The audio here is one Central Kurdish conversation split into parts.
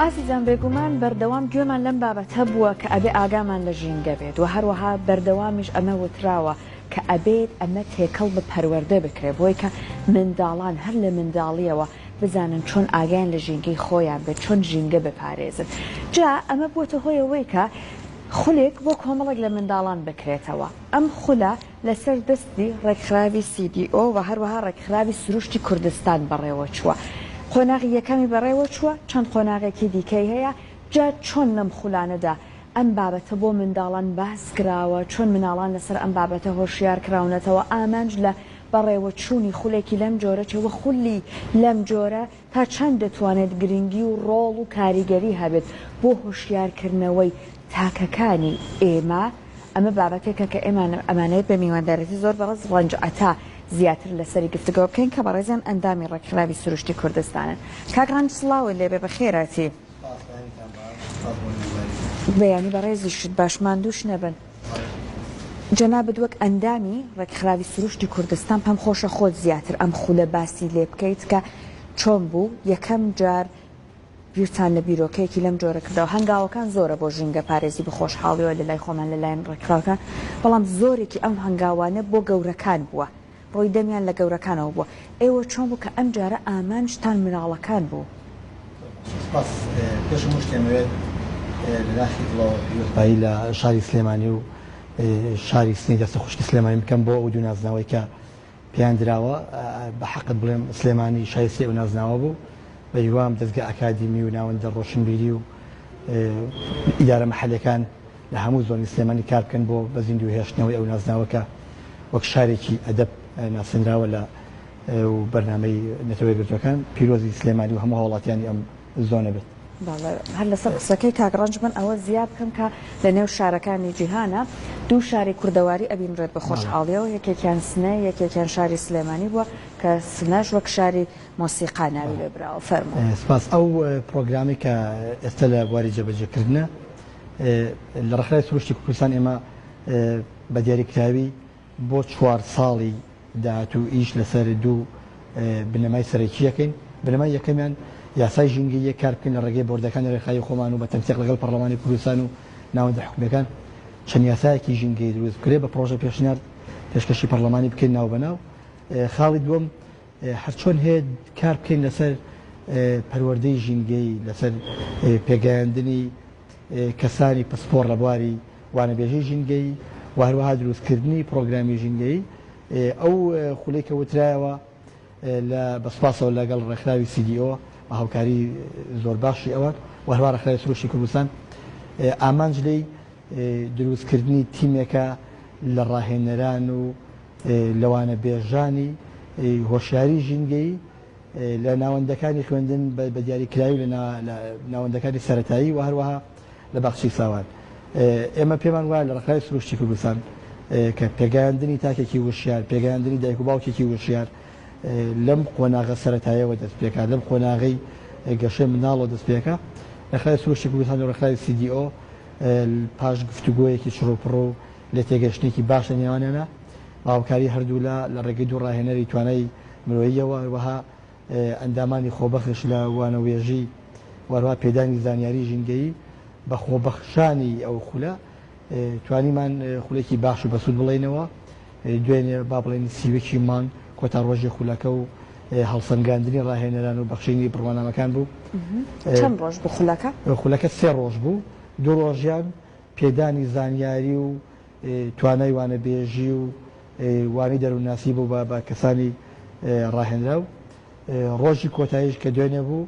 ئازیزان بێگومان بەردەوام گوێمان لەم بابەتە بووە کە ئەبێ ئاگامان لە ژینگە بێت و هەروەها بەردەوامیش ئەمە وتراوە کە ئەبێت ئەمە تێکەڵ بە پەروەردە بکرێت بۆی کە منداڵان هەر لە منداڵیەوە بزانن چۆن ئاگایان لە ژینگەی خۆیان بێت چۆن ژینگە بپارێزن جا ئەمە بوەتە هۆی ئەوەی کە خولێک بۆ کۆمەڵێک لە منداڵان بکرێتەوە ئەم خولە لەسەر دەستی ڕێکخراوی سی دی ئۆ وە هەروەها ڕێکخراوی سروشتی کوردستان بەڕێوە چوە قۆناغی یەکەمی بەڕێوە چوە چەند قۆناغێکی دیکەی هەیە جا چۆن لەم خولانەدا ئەم بابەتە بۆ منداڵان باس کراوە، چۆن مناڵان لەسەر ئەم بابەتە هۆشیار کراونەتەوە، ئامانج لە بەڕێوە چوونی خولێکی لەم جۆرە چیە وە خولی لەم جۆرە تا چەند دەتوانێت گرنگی و ڕۆڵ و کاریگەری هەبێت بۆ هۆشیار کردنەوەی تاکەکانی ئێمە، ئەمە بابەتێکە کە ئێمە ئەمانەوێت بە میواندارێتی زۆر بەڕێز ڕەنج عەتا زیاتر لەسەری گفتگۆ بکەین کە بەڕێزیان ئەندامی ڕێکخراوی سروشتی کوردستانن. کاک ڕەنج سڵاوت لێبێ بەخێراتی. بەیانی بەڕێزیشت باش ماندووش نەبن. جەنابت وەک ئەندامی ڕێکخراوی سروشتی کوردستان پێم خۆشە خۆت زیاتر ئەم خولە باسی لێ بکەیت کە چۆن بوو یەکەم جار بیرتان لە بیرۆکەیەکی لەم جۆرە کردەوە هەنگاوەکان زۆرە بۆ ژینگە پارێزی بەخۆشحاڵیەوە لەلای خۆمان لەلایەن ڕێکخراوەکان بەڵام زۆرێکی ئەم هەنگاوانە بۆ گەورەکان بووە ڕووی دەمیان لە گەورەکانەوە بووە. ئێوە چۆن بوو کە ئەم جارە ئامانجتان مناڵەکان بوو؟ سپاس، پێش هەموو شتێ ئەمەوێت لە داخی دڵەوە پیرۆزبایی لە شاری سلێمانی و شاری سنەی دەستە خوشکی سلێمانی بکەم بۆ ئەو دوو نازناوەی کە پێیان دراوە، بە حەقت بڵێم سلێمانی شایستەی ئەو نازناوە بوو، بە هیوام دەزگا ئەکادیمی و ناوەندە ڕۆشنبیری و ئیدارە مەحەلیەکان لە هەموو زۆنی سلێمانی کار بکەن بۆ بە زیندوو هێشتنەوەی ئەو نازناوە کە وەک شارێکی ئەدەب ناسێنراوە لە و بەرنامەی نەتەوە یەکگرتووەکان پیرۆزی سلێمانی و هەموو هاوڵاتیانی ئەم زۆنە بێت. بەڵێ هەر لەسەر قسەکەی کاک ڕەنج من ئەوە زیا بکەم کە لە نێو شارەکانی جیهانە دوو شاری کوردەواری ئەبینرێت بە خۆشحاڵیەوە یەکێکیان سنە یەکێکیان شاری سلێمانی بووە کە سنەش وەک شاری مۆسیقا ناوی لێ براوە. فەرموو. سپاس ئەو پڕۆگرامەی کە ئێستا لە بواری جێبەجێکردنە. لە ڕێکخراوی سروشتی کوردستان ئێمە بە دیاریکراوی بۆ چوار ساڵی داهاتوو ئیش لەسەر دوو بنەمای سەرەکی دەکەین. بنەمای یەکەمیان یاسای ژینگەییە، کار بکەین لە ڕێگەی بۆردەکانی ڕێکخراوی خۆمان و بە تەنسیق لەگەڵ پەڕڵەمانی کوردستان و ناوەندە حکومییەکان چەند یاسایەکی ژینگەیی دروست بکرێت بە پڕۆژە پێشنیار پێشکەشی پەڕڵەمانی بکەین ناوبەناو. خاڵی دووەم، هەرچۆن هەیە کار بکەین لەسەر پەروەردەی ژینگەیی، لەسەر پێگەیاندنی کەسانی پسپۆڕ لە بواری وانەبێژی ژینگەیی و هەروەها دروستکردنی پڕۆگرامی ژینگەیی، ئەو خولەی کە وترایەوە لە بە سوپاسەوە لەگەڵ ڕێکخراوی CDO بە هاوکاری زۆر باشی ئەوان و هەروەها ڕێکخراوی سروشتی کوردستان ئامانج لێی دروستکردنی تیمێکە لە ڕاهێنەران و لەوانە بێژانی هۆشیاری ژینگەیی لە ناوەندەکانی خوێندن بە دیاریکراوی لە ناوەندەکانی سەرەتایی و هەروەها لە باخچەی ساوان ئێمە پێمان وایە لە ڕێکخراوی سروشتی کوردستان کە پێگەیاندنی تاکێکی وشیار پێگەیاندنی دایک و باوکێکی وشیار لەم قۆناغە سەتایەوە دەست پێکات لەم قۆناغی گەشەی مناڵەوە دەست پێکە ڕێکخراوی سروشتی کوردستان و ڕێکخراوی CDO پاش گفتوگۆیەکی چڕوپڕ و لێتێگەیشتنێکی باش لە نێوانیانە و هاوکاری هەردوولا لە ڕێگەی دوو ڕاهێنەری توانای مرۆییەوە و هەروەها ئەندامانی خۆبەخش لە وانەوێژی و هەروەها پێدانی زانیاری ژینگەیی بە خۆبەخشانی ئەو خولە توانیمان خولێکی باش و بەسوود بڵێینەوە. دوێنێ با بڵێین سی و یەکی مانگ کۆتا ڕۆژی خولەکە و هەڵسەنگاندنی ڕاهێنەران و بەخشینی بڕوانامەکان بوو. چەند ڕۆژ بوو خولەکە؟ خولەکە سێ ڕۆژ بوو، دوو ڕۆژیان پێدانی زانیاری و توانای وانەبێژی و وانەی دەروونناسی بوو بە کەسانی ڕاهێنراو، ڕۆژی کۆتاییش کە دوێنێ بوو،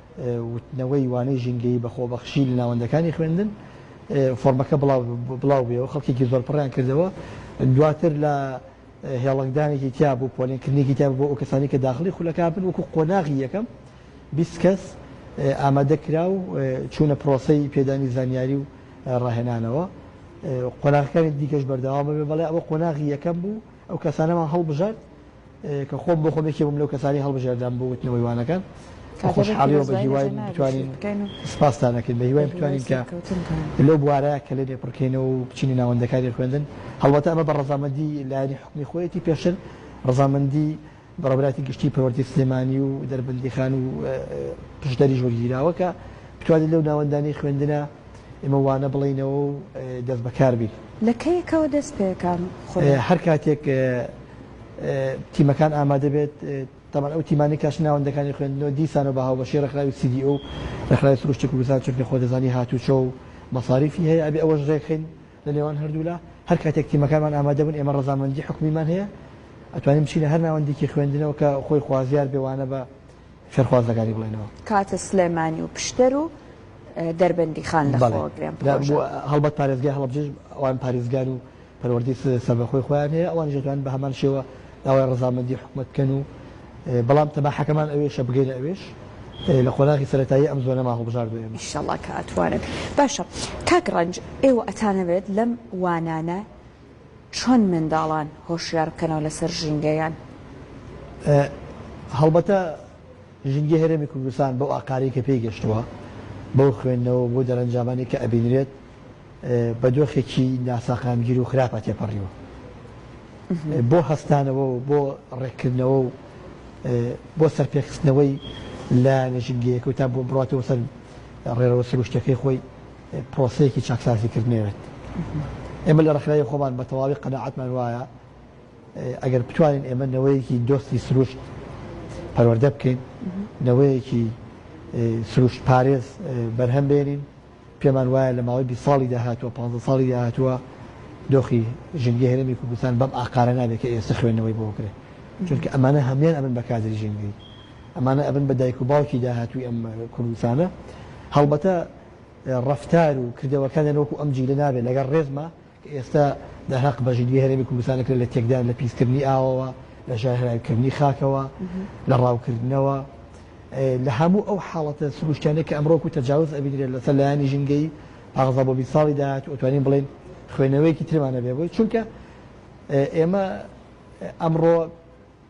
وتنەوەی وانەی ژینگەیی بە خۆبەخشی لە ناوەندەکانی خوێندن فۆرمەکە بڵاو بوویەوە خەڵکێکی زۆر پڕیان کردەوە دواتر لە هێڵنگدانێکی تیا بوو پۆلێنکردنێکی تیا بۆ ئەو کەسانی کە داخلی خولەکە بن وەکو قۆناغی یەکەم بیست کەس ئامادە کرا و چوونە پرۆسەی پێدانی زانیاری و ڕاهێنانەوە قۆناغەکانی دیکەش بەردەوام بێ بەڵێ ئەوە قۆناغی یەکەم بوو ئەو کەسانەمان هەڵبژارد کە خۆم بۆ خۆم یەکێ بووم لەو کەسانەی هەڵبژێردام بۆ وتنەوەی وانەکان کە خۆشحاڵی و بە هیوای بتوانین سپاستان ئەکەین بە هیوای بتوانین کە لەو بوارە کە لێ لێ پڕکەینەوە و بچینە ناوەندەکانی خوێندن هەڵبەتە ئەمە بە ڕەزامەندی لایەنی حکومی خۆیەتی پێشتر ڕەزامەندی بەڕێبراتی گشتی پەروەردەی سلێمانی و دەربەندیخان و پشدەریش وەرگیراوە کە بتوانین لەو ناوەندانەی خوێندنە ئێمە وانە بڵێینەوە و دەست بەکار بین. لە کەیەکەوە دەست پێکان خۆی؟ هەر کاتێک تیمەکان ئامادە بێت، تەبەن ئەو تیمانەی کاش ناوەندەکانی خوێندنەوە دیسانەوە بە هاوبەشی ڕێکخراوی CDO و ڕێکخراوی سروشتی کوردستان چونکە خۆ دەزانی هاتووچۆ و مەساریفی هەیە ئەبێ ئەوەش ڕێکخەین لە نێوان هەردوولا هەر کاتێک تیمەکانمان ئامادە بن ئێمە ڕەزامەندی حکومیمان هەیە ئەتوانین بچینە هەر ناوەندێکی خوێندنەوە کە خۆی خوازیار بێ وانە بە فێرخواز لەگەری بڵێنەوە. کاتە سلێمانی و پشدەر و دەربەندیخان لەخۆوە گرێن پڕۆژە. هەڵبەت پارێزگای هەڵەبجەش ئەوان پاریزگار و پەروەردەی سەربەخۆی خۆیان هەیە ئەوانیش دەتوانن بە هەمان شێوە داوای ڕەزامەندی حکومەت بکەن و بەڵام تەماحەکەمان ئەوێشە بگەینە ئەوێش لە قۆناغی سەرەتایی ئەم زۆنەمان هەڵبژاردووە ئێمە. ئیشەڵا کە ئەتوانن. باشە کاک ڕەنج ئێوە ئەتانەوێت لەم وانانە چۆن منداڵان هۆشیار بکەنەوە لەسەر ژینگەیان؟ هەڵبەتە ژینگەی هەرێمی کوردستان بەو ئاقارەی کە پێی گەشتووە، بەو خوێندنەوە و بەو دەرەنجامانەی کە ئەبینرێت بە دۆخێکی ناساقامگیر و خراپە تێپەڕیوە. بۆ هەستانەوە و بۆ ڕێککردنەوە و بۆ سەرپێخستنەوەی لایەنە ژینگەییەکە و تا بۆ بڕاتەوە سەر ڕێڕەوە سروشتییەکەی خۆی، پرۆسەیەکی چاکسازی کردنەوێت. ئێمە لە ڕێکخراوی خۆمان بە تەواوی قەناعەتمان وایە ئەگەر بتوانین ئێمە نەوەیەکی دۆستی سروشت پەروەردە بکەین، نەوەیەکی سروشت پارێز بەرهەم بێنین، پێمان وایە لە ماوەی بیست ساڵی داهاتووە، پانزە ساڵی داهاتووە دۆخی ژینگەی هەرێمی کوردستان بەم ئاقارە نابێت کە ئێستا خوێندنەوەی بۆ بکرێت. چونکە ئەمانە هەموویان ئەبن بە کادری ژینگەی، ئەمانە ئەبن بە دایک و باوکی داهاتووی ئەم کوردستانە. هەڵبەتە ڕەفتار و کردەوەکانیان وەکو ئەم جیلە نابێت لەگەڵ ڕێزما کە ئێستا دە هەق بە ژیریی هەرێمی کوردستان دەکرێت لە تێکدان لە پیسکردنی ئاوەوە لە ژەهراویکردنی خاکەوە لە ڕاوکردنەوە لە هەموو ئەو حاڵەتە سروشتیانە کە ئەمڕۆ و تەجاوز ئەبینرێت لەسەر لایانی ژینگەی پاغزە بۆ بیست ساڵی داهاتوو ئەتوانین بڵێین خوێنەوەیەکی ترمانە بێ بۆی چونکە ئێمە ئەمڕۆ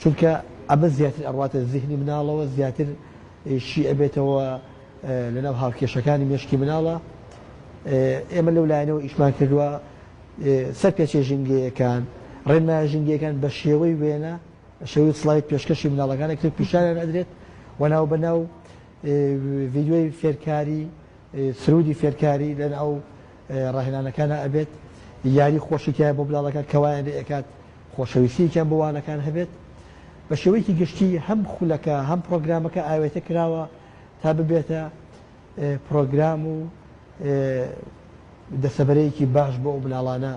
چونکە ئەمە زیاتر ئەڕواتە زیهنی مناڵەوە زیاتر شی ئەبێتەوە لەناو هاوکێشەکانی مێشکی مناڵە ئێمە لەو لایەنەوە ئیشمان کردووە سەر پێچێ ژینگەیەکان ڕێنمایە ژینگەکان بە شێوەی وێنە شێوی سلایت پێشکەشی مناڵەکانە کرد پیشانیان ئەدرێت و ناو بەناو ڤیددیوی فێرکاری سرودی فێرکاری لەناو ڕاهێنانەکانا ئەبێت یاری خۆشی تیایە بۆ منداڵەکان کە وایان لێ ئەکات خۆشەویستییەکیان بۆ وانەکان هەبێت. بە شێوەیەکی گشتی هەم خولەکە هەم پڕۆگرامەکە ئاوێتە کراوە تا ببێتە پڕۆگرام و دەسەبەرەیەکی باش بۆ ئەو منداڵانە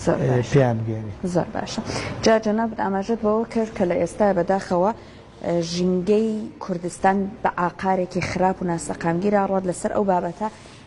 زۆر باش. پێیان بگەێنێت. زۆر باشە. جا جەنابت ئاماژەت بەوە کرد کە لە ئێستا بەداخەوە ژینگەی کوردستان بە ئاقارێکی خراپ و ناسەقامگیرا ڕات لەسەر ئەو بابەتە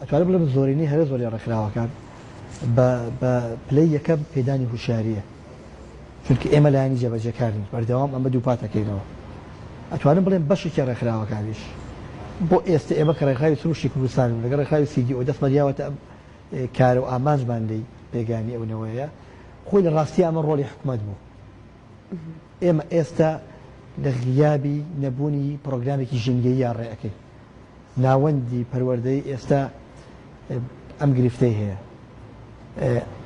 ئەتوانم بڵێم زۆرینەی هەرە زۆری ڕێکخراوەکان بە بە پلەی یەکەم پێدانی هوشیاریە چونکە ئێمە لایانی جێبەجێکارین بەردەوام ئەمە دووپاتەکەینەوە ئەتوانم بڵێم بەشێکی ڕێکخراوەکانیش بۆ ئێستا ئێمە کە ڕێکخراوی سروشی کوردستان و لەگە ڕێکخراوی سیدی ئەو دەستمان یاوەتە ئەم کار و ئامانجمان لی پێگانی ئەونەوەیە خۆی لە ڕاستی ئەمە ڕۆلی حکومەت بوو ئێمە ئێستا لە غیابی نەبوونی پڕۆگرامێکی ژینگەیی یا ڕێەکەی ناوەندی پەروەردەی ئێستا ئەم گرفتەی هەیە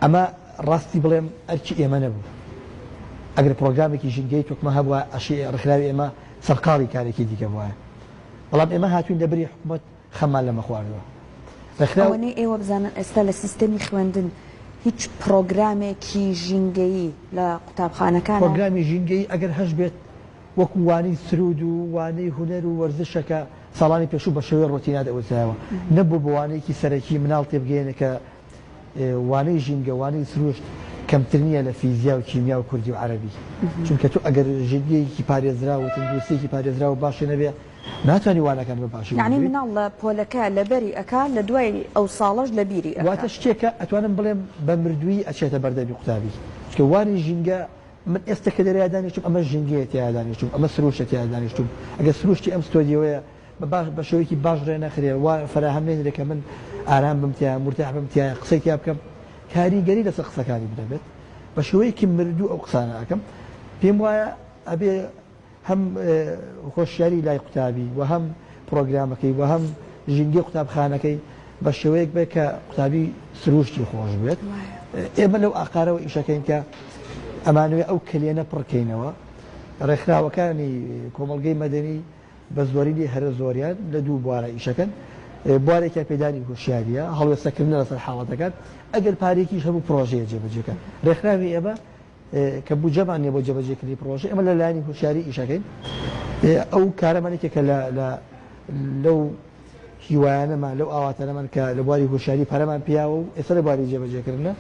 ئەمە ڕاستی بڵێم ئەرکی ئێمە نەبوو ئەگەر پرۆگرامێکی ژینگەی تۆکمە هەبووە ئەشی ڕخراوی ئێمە سەرقاڵی کارێکی دیکە بووە بەڵام ئێمە هاتوین لە بری حکوومەت خەممان لەمە خواردوە ڕێکخراو. ئەوەنەی ئێوە بزانن ئێستا لە سیستەمی خوێندن هیچ پڕۆگرامێکی ژینگەیی لە قوتابخانەکان. پڕۆگرامی ژینگەیی ئەگەر هەشبێت وەکو وانەی سروود و وانەی هونەر و وەرزشە کە ساڵانی پێشوو بە شێوەی ڕۆتینا دەوترایەوە نەبوو بە وانەیەکی سەرەکی مناڵ تێبگەیەنێ کە وانەی ژینگە وانەی سروشت کەمتر نییە لە فیزیا و کیمیا و کوردی و عەرەبی چونکە تۆ ئەگەر ژینگەیەکی پارێزراو و تەندروستییەکی پارێزراو و باشی نەبێ ناتوانی وانەکان بە باشی یانی وەرگری. مناڵ لە پۆلەکە لەبەری ئەکا لە دوای ئەو ساڵەش لە بیری ئەکا. واتە شتێکە ئەتوانم بڵێم بە مردوویی ئەچێتە بەردەمی قوتابی چونکە وانەی ژینگە من ئێستە کە لێرەیا دانیشتووم ئەمە ژینگەیە تێیا دانیشتووم ئەمە سرووشتە تێیا دانیشتووم ئەگەر سرووشتی ئەم ستۆدیۆیە بە باش بە شێوەیەکی باش ڕێ نەخرێ وا فەراهەم نەینرێ کە من ئارام بم تێیا مورتاح بم تێیا قسەی تێیا بکەم کاریگەری لەسەر قسەکانی بدەبێت بە شێوەیەکی مردوو ئەو قسانە ئەکەم پێم وایە ئەبێ هەم هۆشیاری لای قوتابی و هەم پرۆگرامەکەی و هەم ژینگەی قوتابخانەکەی بە شێوەیەک بێت کە قوتابی سرووشتی خۆش بێت. ئێمە لەو ئاقارەوە ئیشەکەین کە ئەمانەوێ ئەو کەلێنە پڕکەینەوە. ڕێکخراوەکانی کۆمەڵگەی مەدەنی بە زۆرینەی هەرە زۆریان لە دوو بوارە ئیشەکەن. بوارێکیان پێدانی هۆشیارییە، هەڵوێستەکردنە لەسەر حاڵەتەکان. ئەگەر پارەیەکیش هەبوو پڕۆژەیە جێبەجێکەن. ڕێکخراوی ئێمە کە بودجەمان نیە بۆ جێبەجێ کردنی پڕۆژە ئێمە لە لایەنی هوشیاری ئیش ئەکەین ئەو کارەمان یەکێکە لە لەو هیوایانەمان لەو ئاواتەنەمان کە لە بواری هوشیاری پەرەمان پیاوە و ئێستا لە بواری جێبەجێکردنە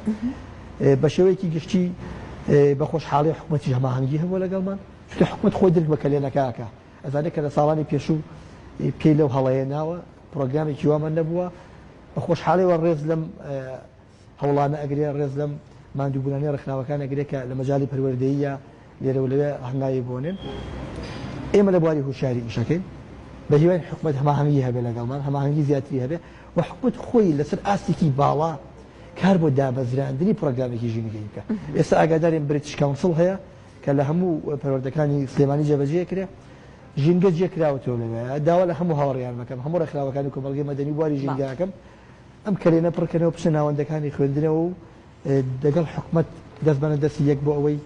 بە شێوەیەکی گشتی بە خۆشحاڵی حکوومەتی هەماهەنگی هەبوو لەگەڵمان چکە حکوومەت خۆی درک بە کەلێنەکەکە ئەزانێت کە لە ساڵانی پێشوو پێی لەو هەڵەیە ناوە پرۆگرامێکی وامان نەبووە بە خۆشحاڵەوە ڕێز لەم هەوڵانە ئەگرێ، ڕێز لەم ماندووبوونانەی ڕێکخراوەکان ئەگرێ کە لە مەجالی پەروەردەییە لێرە و لەوێ هەنگاوی بۆنێن. ئێمە لە بواری هوشیاری ئیش ئەکەین، بە هیواین حکومەت هەماهەنگی هەبێ لەگەڵمان، هەماهەنگی زیاتری هەبێ و حکومەت خۆی لەسەر ئاستێکی باڵا کار بۆ دامەزراندنی پڕۆگرامێکی ژینگەیی بکا. ئێستا ئاگادارین بریتش کاونسڵ هەیە کە لە هەموو پەروەردەکانی سلێمانی جێبەجێ ئەکرێ، ژینگە جێ کراوەتەوە لەوێ. داوا لە هەموو هاوڕێیان ئەکەم، هەموو ڕێکخراوەکانی کۆمەڵگەی مەدەنی و بواری ژینگە ئەکەم ئەم کەلێنە پڕکەنەوە بچنە ناوەندەکانی خوێندنەوە و دەگەڵ حکومەت دەست بەنە دەستی یەک بۆ ئەوەی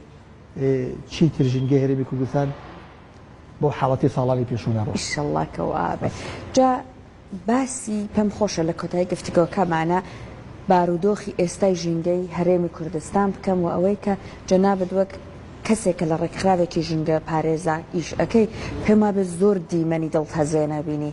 چیتر ژینگەی هەرێمی کوردستان بۆ حاڵەتی ساڵانی پێشوو نەڕۆ ئیشەڵڵا کەوا بێت جا باسی پێم خۆشە لە کۆتایی گفتگۆکەمانە بارودۆخی ئێستای ژینگەی هەرێمی کوردستان بکەم و ئەوەی کە جەنابت وەک کەسێک کە لە ڕێکخراوێکی ژینگە پارێزا ئیش ئەەکەی پێم وابێت زۆر دیمەنی دڵتەزێنە بینی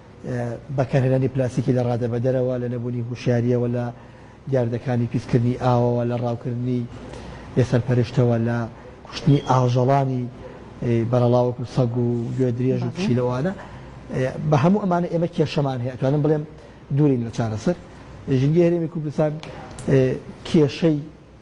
بەکارهێنانی پلاستیکی لە ڕادەبەدەرەوە، لە نەبوونی هوشیارییەوە لە دیاردەکانی پیسکردنی ئاوەوە، لە ڕاوکردنی بێ سەرپەرشتەوە، لە کوشتنی ئاژەڵانی بەرەڵا وەکو سەگ و گوێدرێژ و پشیلە و ئانا. بە هەموو ئەمانە ئێمە کێشەمان هەیە، ئەتوانم بڵێم دوورین لە چارەسەر. ژینگەی هەرێمی کوردستان کێشەی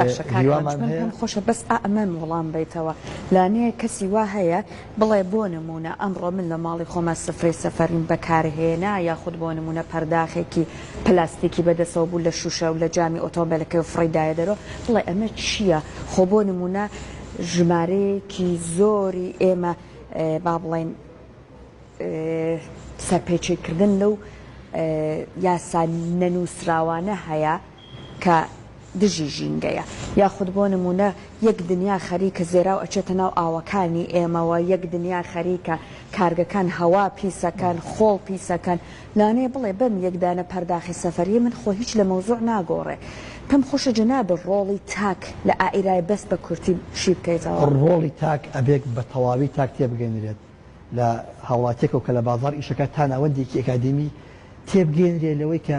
باشە کاک ڕەنج من پێم خۆشە بەس ئەمەم وڵام بەیتەوە لانەیە کەسی وا هەیە بڵێ بۆ نمونە ئەمڕۆ من لە ماڵی خۆمە سفرەی سەفەریم بەکارهێنا یاخود بۆ نمونە پەرداخێکی پلاستیکی بەدەسەوە بوو لە شوشە و لە جامی ئۆتۆمبیلەکەی و فڕی دایە دەرۆ بڵێ ئەمە چییە خۆ بۆ نمونە ژمارەیەکی زۆری ئێمە با بڵێن سەرپێچیکردن لەو یاسا نەنووسراوانە هەیە کە دژی ژینگەیە یاخود بۆ نموونە یەک دنیا خەریکە زێراو ئەچێتە ناو ئاوەکانی ئێمەوە یەک دنیا خەریکە کارگەکان هەوا پیسەکەن خۆڵ پیسەکەن لانێ بڵێ بەم یەک دانە پەرداخی سەفەریە من خۆ هیچ لە مەوزوع ناگۆڕێ پێم خۆشە جەناب ڕۆڵی تاک لە ئائیرای بەس بە کورتی شی بکەیتەوە. ڕۆڵی تاک ئەبێک بە تەواوی تاک تێبگەنرێت لە هاوڵاتیەکەوە کە لە بازاڕ ئیشەکات تا ناوەندێکی ئەکادیمی تێبگەنرێ لەوەی کە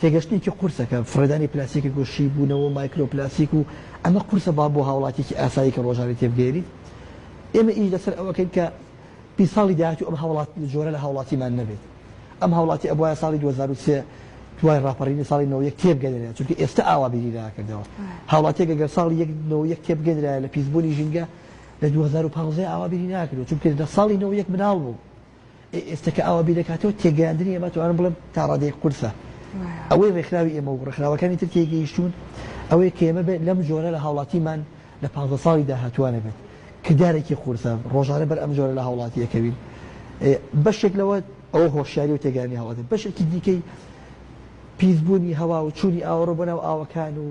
تێگەشتنێکی قورسە کە فڕێدانی پلاستیکی گۆ شی بوونەوە و مایکرۆ پلاستیک و ئەمە قورسە با بۆ هاوڵاتیەکی ئاسایی کە ڕۆژانەی تێبگەیەنیت ئێمە ئیش لەسەر ئەوەکەین کە پی ساڵی داهاتوو ئەم هاوڵات جۆرە لە هاوڵاتیمان نەبێت ئەم هاوڵاتی ئەبوایە ساڵی 2023 دوای ڕاپەڕینی ساڵی 91 تێبگەنرێت چونکە ئێستا ئاوا بیری ناکردەوە هاوڵاتیەک ئەگەر ساڵی 1991 تێبگەنرایە لە پیسبوونی ژینگە لە 2015 ئاوا بیری ناکردەوە چونکە لە ساڵی 91 مناڵ بوو ئێستا کە ئاوا بیردەکاتەوە تێگەیاندنی ئێمە توانم بڵێم تا ڕادەیەک قورسە. ئەوەی ڕێکخراوی ئێمە و ڕێکخراوەکانی تر تێیگەیشتوون ئەوەیە کە ئێمە بێت لەم جۆرە لە هاوڵاتیمان لە پانزە ساڵی داهاتووە نەبێت. کردارێکی قورسە، ڕۆژانە بەر ئەم جۆرە لە هاوڵاتی ئەکەوین. بەشێک لەوە ئەوە هۆشیاری و تێگەیاندنی هاوڵاتییە. بەشێکی دیکەی پیسبوونی هەوا و چوونی ئاوەڕۆ بۆ ناو ئاوەکان و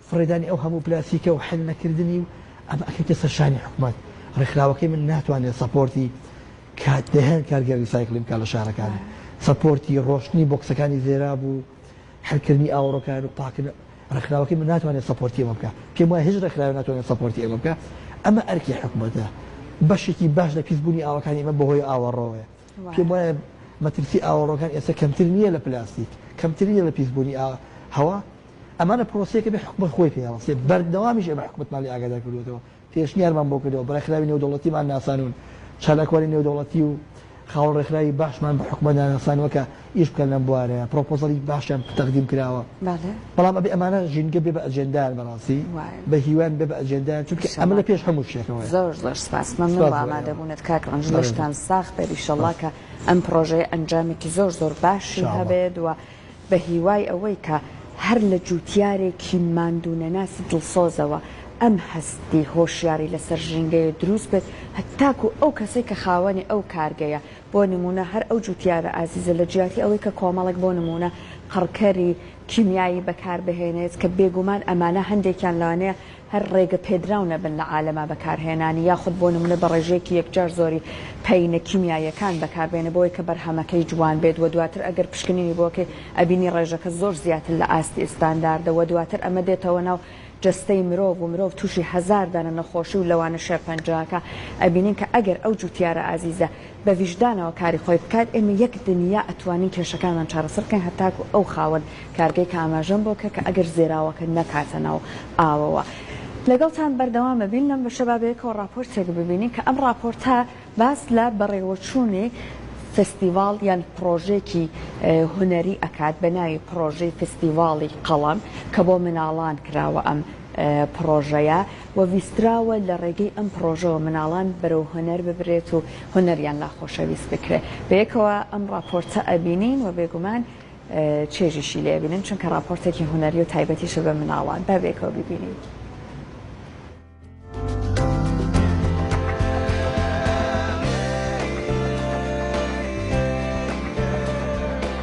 فڕێدانی ئەو هەموو پلاستیکە و حل نەکردنی و ئەمە ئەکەیتە سەر شانی حکومەت، ڕێکخراوەکەی من ناتوانێت سەپۆرتی کات دەیان کارگەی ڕیسایکڵین بکات لە شارەکان، سەپۆرتی ڕۆشتنی بۆکسەکانی زێراب و حل کردنی ئاوەڕۆکان و پاکن ڕێکخراوەکەی من ناتوانێت سەپۆرتی ئەمە بکات، پێم وایە هیچ ڕێکخراوێک ناتوانێت سەپۆرتی ئێمە بکات، ئەمە ئەرکی حکومەتە، بەشێکی باش لە پیس بوونی ئاوەکانی ئێمە بەهۆی ئاوەڕۆیە، پێم وایە مەترسی ئاوەڕۆکان ئێستا کەمتر نییە لە پلاستیک، کەمتر نییە لە پیس بوونی هەوا، ئەمانە پرۆسەیەکە ئەبێ حکومەت خۆی پێ هەڵسێ، بەردەوامیش ئەبێ حکومەتمان لێ ئاگادار کردووەتەوە، پێشنیارمان بۆ کردووە، بەڕێکخراوی نێودەوڵەتیمان ناسانوون، چالاکوانی نێودەوڵەتی و خاوەن ڕێکخراوی باشمان بە حکومەتدا ناسانووە کە ئیش بکەن لەم بوارەیا، پرۆپۆزەڵی باشیان تەقدیم کراوە، بەڵام ئەبێ ئەمانە ژینگە بێ بە ئەجێندایان بەڕاستی، بە هیوایان بێ بە ئەجێندایان، چونکە ئەمە لە پێش هەموو شتێکەوەیە. زۆر زۆر سپاس، مەمنون بۆ ئامادەبوونت کاک ڕەنج، لەشتان ساغ بێت، ئیشەڵڵا کە ئەم پرۆژەیە ئەنجامێکی زۆر زۆر باشی هەبێت و بە هیوای ئەوەی کە هەر لە جووتیارێکی ماندوونەناسی دڵسۆزەوە ئەم هەستی هۆشیاری لەسەر ژینگەیە درووست بێت هەتاکوو ئەو کەسەی کە خاوەنی ئەو کارگەیە بۆ نموونە هەر ئەو جووتیارە ئازیزە لە جیاتی ئەوەی کە کۆمەڵێک بۆ نموونە قڕکەری کیمیایی بەکار بهێنێت کە بێگوومان ئەمانە هەندێکیان لەوانەیە هەر ڕێگە پێدراو نەبن لە عالەما بەکارهێنانی یاخود بۆ نمونە بە ڕێژەیەکی یەکجار زۆری پەینە کیمیاییەکان بەکاربێنە بۆوەی کە بەرهەمەکەی جوان بێت وە دواتر ئەگەر پشکنینی بۆکەی ئەبینی ڕێژەکە زۆر زیاتر لە ئاستی ئستانداردە وە دواتر ئەمە دێتەوە ناو جەستەی مرۆڤ و مرۆڤ توشی هەزار دانە نەخۆشی و لەوانە شێرپەنجەکە ئەبینین کە ئەگەر ئەو جوتیارە ئازیزە بە ویژدانەوە کاری خۆی بکات، ئێمە یەک دنیا ئەتوانین کێشەکانمان چارەسەر بکەین هەتاکو ئەو خاوەن کارگەی کە ئاماژەم بۆ کرد کە ئەگەر زێراوەکە نەکاتە ناو ئاوەوە لەگەڵتان بەردەوام ئەبین لەم بەشە با بەیەکەوە ڕاپۆرتێک ببینین کە ئەم ڕاپۆرتە باس لە بەڕێوەچوونی فستیڤاڵ یان پڕۆژێکی هونەری ئەکات بە ناوی پڕۆژەی فستیڤاڵی قەڵەم کە بۆ مناڵان کراوە ئەم پڕۆژەیە. و ویستراوە لە ڕێگەی ئەم پڕۆژەوە مناڵان بەرەو هونەر ببرێت و هونەریان لا خۆشەویست بکرێت بەیەکەوە ئەم ڕاپۆرتە ئەبینین و بێگومان چێژیشی لێ ئەبینن چونکە ڕاپۆرتێکی هونەری و تایبەتیشە بە مناڵان با بەیەکەوە بیبینین.